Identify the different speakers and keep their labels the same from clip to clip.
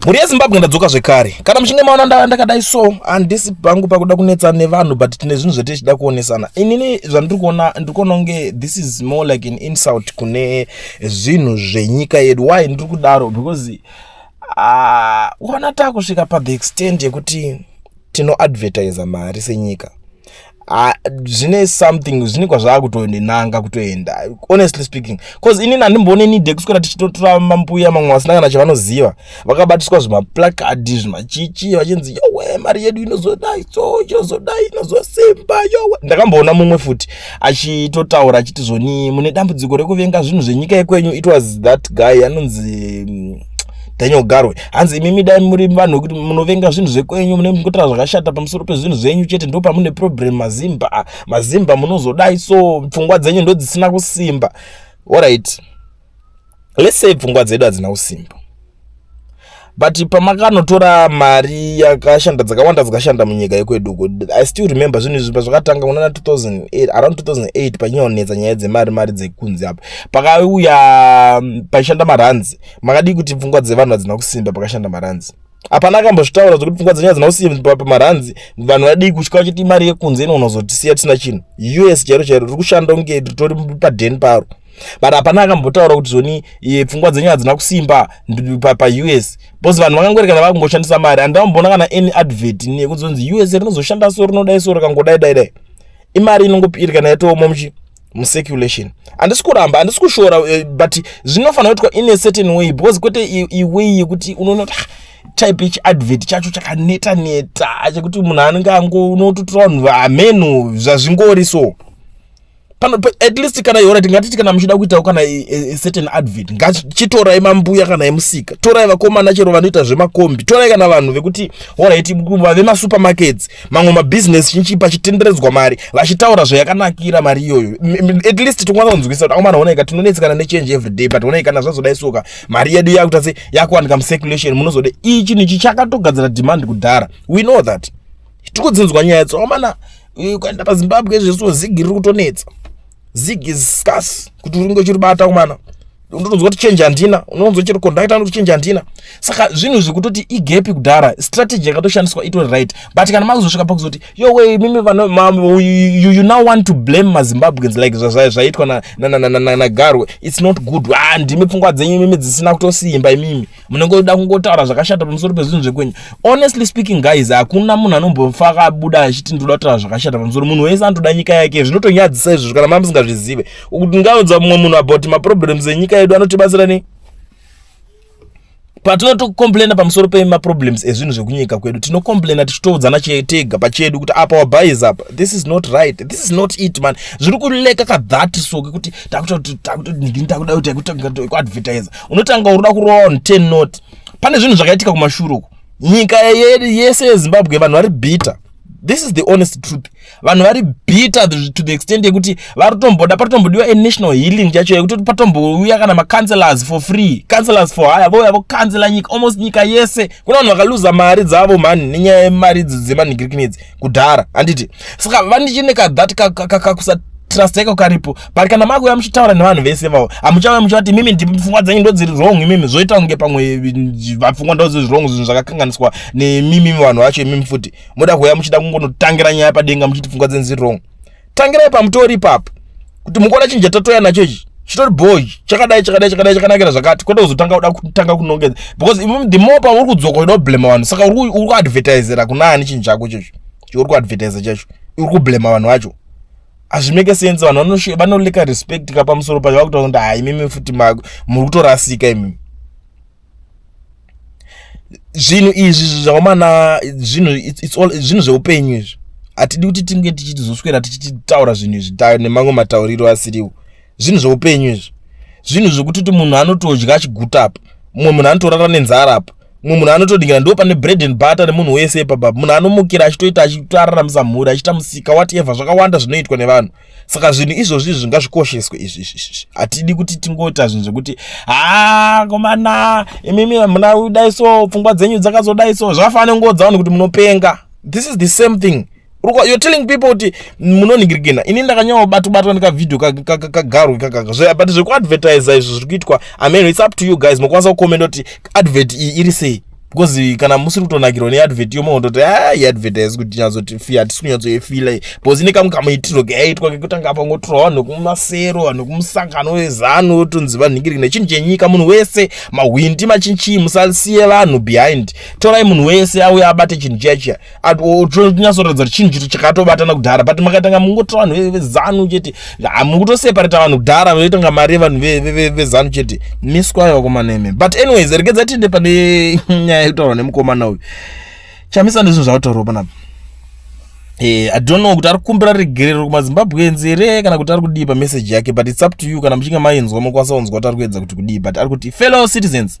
Speaker 1: mhuri
Speaker 2: yezimbabwe ndadzoka zvekare kana muchinge maona ndava ndakadai so handisi pangu pakuda kunetsa nevanhu but tine zvinhu zvete tichida kuonesana inini zvandiri kuona ndiri kuona kunge this is more like an insult kune zvinhu zvenyika yedu why ndiri kudaro because ah, kuona uh, takusvika pathe extent yekuti tinoadvertisa mari senyika Ah, zvine something zvine kwazvakutonenanga kutoenda honestly speaking bcause inini handimboone need yekuswera tichitotora mambuya mamwe vasina kana chavanoziva vakabatiswa zvimaplacard zvimachichi vachinzi yowe mari yedu inozodai so inozodai inozosimba yowe ndakamboona mumwe futi achitotaura achiti zvoni mune dambudziko rekuvenga zvinhu zvenyika yekwenyu it was that guy anonzi mm, Daniel Garwe hanzi imimi dai muri vanhu wekuti munovenga zvinhu zvekwenyu mune mukutaura zvakashata pamusoro pezvinhu zvenyu chete ndo pamune problem mazimba mazimba munozodai so pfungwa dzenyu ndo dzisina kusimba orit let's say pfungwa dzedu hadzina kusimba but pamakanotora mari yakashanda dzakawanda dzakashanda munyika yekwedu uko i still remember zvinhu izvi pazvakatanga kunana 2008 around 2008 panyonetsa nyaya dzemari mari dzekunzi apa pakauya paishanda maranzi makadii kuti pfungwa dzevanhu hadzina kusimba pakashanda maranzi hapana akambozvitaura zvekuti pfungwa dzenyu hadzina kusimba pamaranzi vanhu vadii kutya vachiti imari yekunze ino unozotisiya tisina chinhu us chairo chairo riri kushanda kunge ritori padheni paro but hapana akambotaura kuti zvoni eh, pfungwa dzenyu hadzina kusimba paus bcause vanhu vakangwerekana vakungoshandisa mari handamboona kana any advert nekunzonzi us rinozoshanda so rinodai so rikangodai dai dai imari inongopirikana yatooma muchi mucirculation handisi kuramba handisi kushora eh, but zvinofanira kuitwa in a certain way because kwete iway yekuti unoona kuti ah, type yechiadvert chacho chakaneta neta chekuti munhu anenge ango unototora vanhu amenu zvazvingori so pano at least kana yora tingatiti kana muchida kuitawo kana certain advert ngachitorai mambuya kana emusika torai vakomana chero vanoita zvemakombi torai kana vanhu vekuti horaiti vemasupermarkets mamwe mabhizinesi chinchi pachitenderedzwa mari vachitaura zvayakanakira mari iyoyo at least tinokwanisa kunzwisa kuti akomana onaika tinonetsekana nechange every day but onaika kana zvazoda isoka mari yedu yakuita se yakuwanika mucirculation munozode iyi chinhu ichi chakatogadzira demand kudhara we know that tikudzinzwa nyaya yatso akomana eh, ukaenda pazimbabwe zvesuo zigi riri kutonetsa zig is scarce kuti uringe uchiribata akomana ndonzwa kuti change handina unonzwa chero conductor anoti change handina saka zvinhu izvi kutoti igepi kudhara strategy yakatoshandiswa itori right but kana makuzosvika pakuzoti yo we mimi vano ma, you, you, you now want to blame mazimbabweans like zvaitwa nagarwe na, na, na, na, na, na, na, it's not good ah, ndimi pfungwa dzenyu imimi dzisina kutosimba imimi munenge uda kungotaura zvakashata pamusoro pezvinhu zvekwenyu honestly speaking guys hakuna munhu anombofa akabuda achiti ndoda kutaura zvakashata pamusoro munhu wese anotoda nyika yake zvinotonyadzisa izvozvo kana mama musingazvizive kuti ngaudza mumwe munhu about maproblems enyika yedu anotibatsira nei patinotokomplaina pamusoro pemaproblems ezvinhu zvekunyika kwedu tinokomplaina tichitoudzana tega pachedu kuti apa wabhais apa this is not right this is not it man zviri kuleka kadhat so kekuti takutoadvertisa unotanga unoda kurova on 10 not pane zvinhu zvakaitika kumashure uku nyika yese yezimbabwe vanhu vari bitter this is the honest truth vanhu vari bitter to the extent yekuti varitomboda patombodiwa a national healing chacho yekuti patombouya kana macancelors for free cancelors for hire vouya vocancela nyika almost nyika yese kuna vanhu vakaluza mari dzavo mhani nenyaya yemari idzi dzemanhigirikini idzi kudhara handiti saka vandichine kadhat kakusa trusteka karipo but kana makuya muchitaura nevanhu vese vavo hamuchauya muchivati mimi ndipo pfungwa dzenyu ndodziri wrong imimi zvoita kunge pamwe vapfungwa ndodziri wrong zvinhu zvakakanganiswa nemimimi vanhu vacho imimi futi moda kuuya muchida kungonotangira nyaya padenga muchiti pfungwa dzenyu dziri wrong tangirai pamutori ipapo kuti mukuona chinhu chatatoya nacho ichi chitori boy chakadai chakadai chakadai chakanakira zvakati kwete kuzotanga kuda kutanga kunongedza because the more pauri kudzoka uda kublema vanhu saka uri kuadvertisera kuna ani chinhu chako chacho uri kuadvertiser chacho uri kublema vanhu vacho hazvimeke sense vanhu vanoleka respect ka pamusoro pacho vakutaura kuti haimimi futi muri kutorasika imimi zvinhu izvi zvawamana zvinhu zvinhu zveupenyu izvi hatidi kuti tinge tichitizoswera tichitaura zvinhu izvi nemamwe matauriro asiriwo zvinhu zveupenyu izvi zvinhu zvekuti kuti munhu anotodya achiguta apa mumwe munhu anotorara nenzara apa mumwe munhu anotodingira ndo pane bread and butter nemunhu wese ipapa munhu anomukira achitoita achitoararamisa mhuri achiita musika whatever zvakawanda zvinoitwa nevanhu saka zvinhu izvozvi zvingazvikosheswe izvi izvi hatidi kuti tingoita zvinhu zvekuti haa komana imimi hamuna kudai so pfungwa dzenyu dzakazodai so zvakafanira kungoudza vanhu kuti munopenga this is the same thing you're telling people kuti munoningirigena ini ndakanyawa batobatwa ndikavhidhio kagarwe kakaka but zvekuadvertisa izvo zviri kuitwa ameno its up to you guys mokwanisa kukomenda kuti advert iyi iri sei because kana musiri kutonakirwa neadvert yomwe kutoti a iadvert haisi kuti nyatsotifi hatisi kunyatsoifila because ine kamwe kamaitirwo kayaitwa kekutanga apa ngotorwa vanhu kumasero vanhu kumusangano wezanu otonzi vanhingiriki nechinhu chenyika munhu wese mahwindi machinchii musasiye vanhu behind torai munhu wese auya abate chinhu chiya chiya tonyatsoratidza kuti chinhu chito chakatobatana kudhara but makatanga mungotora vanhu vezanu chete mukutoseparata vanhu kudhara vaitanga mari yevanhu vezanu chete miswayo vakomana imi but anyways regedza tiende pane nyaya yekutaurwa nemukomana uyu chamisa ndizvo zvakutaurwa panapa Eh, i don't know kuti ari kukumbira regerero kumazimbabwenzi here kana kuti ari kudii pameseji yake but its up to you kana muchinge mainzwa mokwanisa kunzwa kuti ari kuedza kuti kudii but ari kuti fellow citizens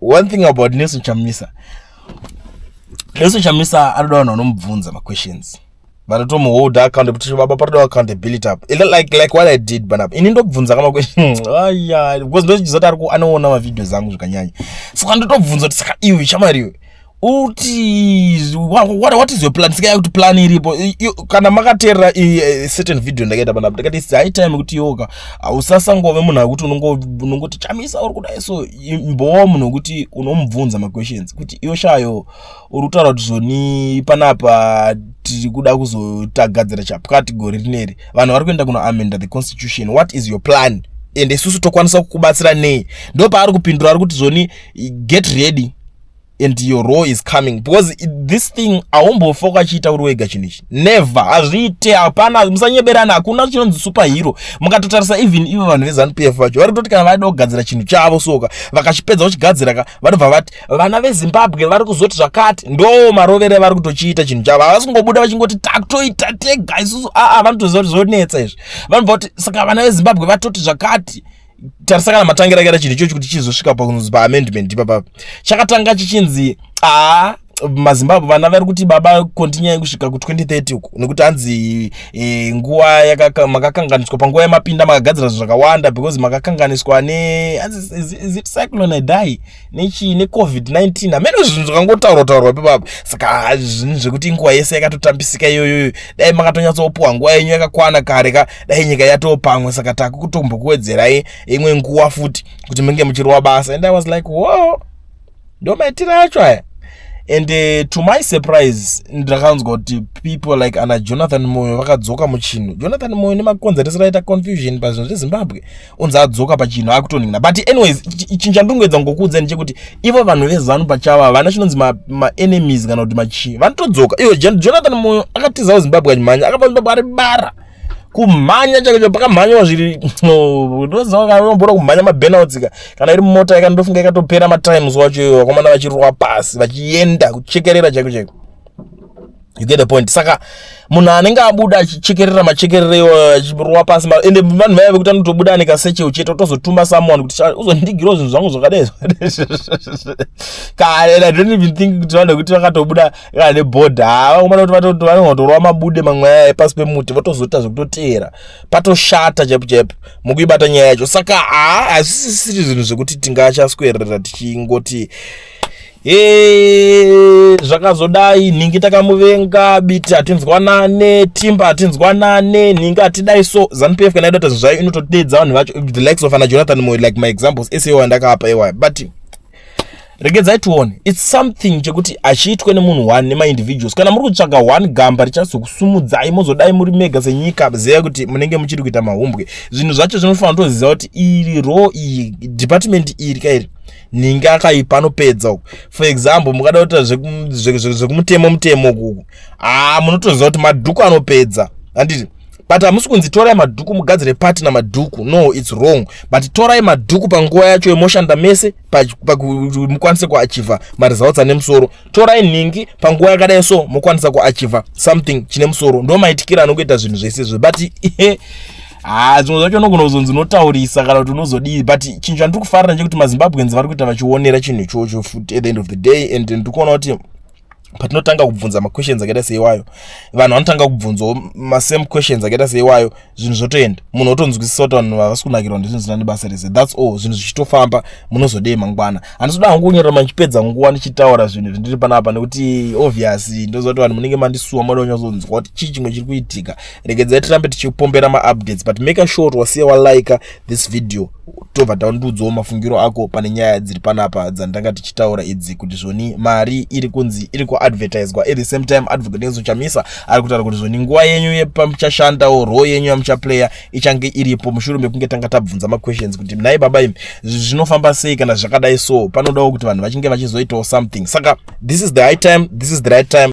Speaker 2: one thing about nelson chamisa nelson chamisa anoda vanhu vanomubvunza maquestions vanotomuholda account kuti baba patoda accountability apo like like what i did banapa ini ndobvunza ka maquestion aya because ndochiziva kuti ari ku anoona mavideos angu zvakanyanya saka ndotobvunza kuti saka iwe chamariwe uti what, what, what is your plan sika yakuti plan iripo kana makateerera eh, certain video ndakaita panapa ndakati its high time kuti yoka hausasangove munhu akuti unongoti chamisa uri kudai so imbowa munhu wekuti unomubvunza maquestions kuti iyo shayo uri kutaura kuti zvoni panapa tiri kuda kuzotagadzira chapkati gore rineri vanhu vari kuenda kunoamenda the constitution what is your plan ende isusu tokwanisa kukubatsira nei ndopaari kupindura ari kuti zvoni get ready and your role is coming because it, this thing aumbofa ukachiita uri wega chinhu ichi never hazviite hapana musanyeberana hakuna chinonzi super hero mukatotarisa even ivo vanhu vezanu p f vacho vari kutoti kana vaida kugadzira chinhu chavo soka vakachipedza kuchigadzira ka vanobva vati vana vezimbabwe vari kuzoti zvakati ndo marovere vari kutochiita chinhu chavo havasi kungobuda vachingoti takutoita tega isusu aa ah, ah, vanotoziva kuti zvonetsa izvi vanobva kuti saka vana vezimbabwe vatoti zvakati tarisa kana matangira kaita chinhu ichochi kuti chizosvika pakunzi paamendment ipapa chakatanga chichinzi aa mazimbabwe vana vari kuti baba kontinyai kusvika ku2030 uku nekuti hanzi e, nguva makakanganiswa panguva yamapinda makagadzira zvinhu zvakawanda because makakanganiswa ne is, is, is it cyclone idai nechii necovid-19 hameno zvinhu zvakangotaurwa taurwa pepapa saka zvinhu zvekuti nguva yese yakatotambisika iyoyoyo dai makatonyatsopuwa nguva yenyu yakakwana kare ka dai nyika yatoo pamwe saka takukutombokuwedzerai imwe nguva futi kuti menge muchirova basa and i was like wo ndo maitiro acho aya and uh, to my surprise ndakanzwa kuti people like ana jonathan moyo vakadzoka muchinhu jonathan moyo nemakonzeresero aita confusion pazvinhu zvezimbabwe onzi adzoka pachinhu akutonhina but anyways chinhu chandingoedza ngokuudzani chekuti ivo vanhu vezanu pachavo havana chinonzi maenemies kana kuti machii vanotodzoka ivo jonathan moyo akatizawo zimbabwe achimhanya akabva zimbabwe ari bara kumhanya chake cho pakamhanyiwa zviri ndozivaambora kumhanya mabenaltsika kana iri mota yaka ndofunga ikatopera matimes wacho iyo vakomana vachirwa pasi vachienda kuchekerera chaiko chaiko you get the point saka munhu anenge abuda achichekerera machekerere iwayo achirova pasi ende vanhu vaya vekuti anotobuda ane kaseche uchete otozotuma someone kuti uzondigirawo zvinhu zvangu zvakadai kare i don't even think kuti vanhu vekuti vakatobuda kana nebhodha hava kumana kuti vanenge vatorova mabude mamwe aya epasi pemuti votozoita zvekutoteera patoshata chaipo chaipo mukuibata nyaya yacho saka haa hazvisisiri zvinhu zvekuti tingachaswerera tichingoti Hey, zvakazodai nhingi takamuvenga biti hatinzwanane timba hatinzwanane nhingi hatidai so zanupf kana idata zvinhu zvayo inototeedza vanhu vacho the likes of ana jonathan moyo like my examples ese iwayo ndakaapa iwayo but regedzai tione its something chekuti achiitwe nemunhu one nemaindividuals kana muri kutsvaga one gamba richazokusumudzai mozodai muri mega senyika zeya kuti munenge muchiri kuita mahumbwe zvinhu zvacho zvinofanira kutoziva kuti iri ro iyi department iri kairi ninge akaipa anopedza uku for example mukada kuita zvekumutemo mutemo ukuku haa ah, munotoziva kuti madhuku anopedza handiti but hamusi kunzi torai madhuku mugadzire pati namadhuku no its wrong but torai madhuku panguva yacho yemoshanda mese mukwanise kuachiva maresults ane musoro torai nhingi panguva yakadai so mokwanisa kuachiva something chine musoro ndo maitikira anokuita zvinhu zvese izvo but haa ah, zvimwe zvacho unogona kuzonzi unotaurisa kana kuti unozodii but chinhu chandiri kufarira chekuti mazimbabweans vari kuita vachionera chinhu ichocho futi at the end of the day and ndiri kuona kuti patinotanga kubvunza maquestions akaita seiwayo vanhu vanotanga kubvunzawo masame questions akaita seiwayo zvinhu zvotoenda munhu otonzwisisa kuti vanhu vavasi kunakirwa ndizvinhu zvina nebasa rese thats all zvinhu zvichitofamba munozodei mangwana handisoda hangu kunyora mandichipedza nguva ndichitaura zvinhu zvindiri panapa nekuti obvious ndoziva kuti vanhu munenge mandisuwa moda kunyazonzwa kuti chii chimwe chiri kuitika regedzai tirambe tichipombera maupdates but make sure kuti wasiya walika this video tobva tandiudzawo mafungiro ako pane nyaya dziri panapa dzandanga tichitaura idzi kuti zvoni mari iri kunzi iri kuadvertiswa at the same time advocate nezo chamisa ari kutaura kuti zvoni nguva yenyu yepamuchashandawo roo yenyu yamuchaplaya ichange iripo mushure mekunge tanga tabvunza maquestions kuti nhai baba imi zvinofamba sei kana zvakadai so panodawo kuti vanhu vachinge vachizoitawo something saka this is the high time this is the right time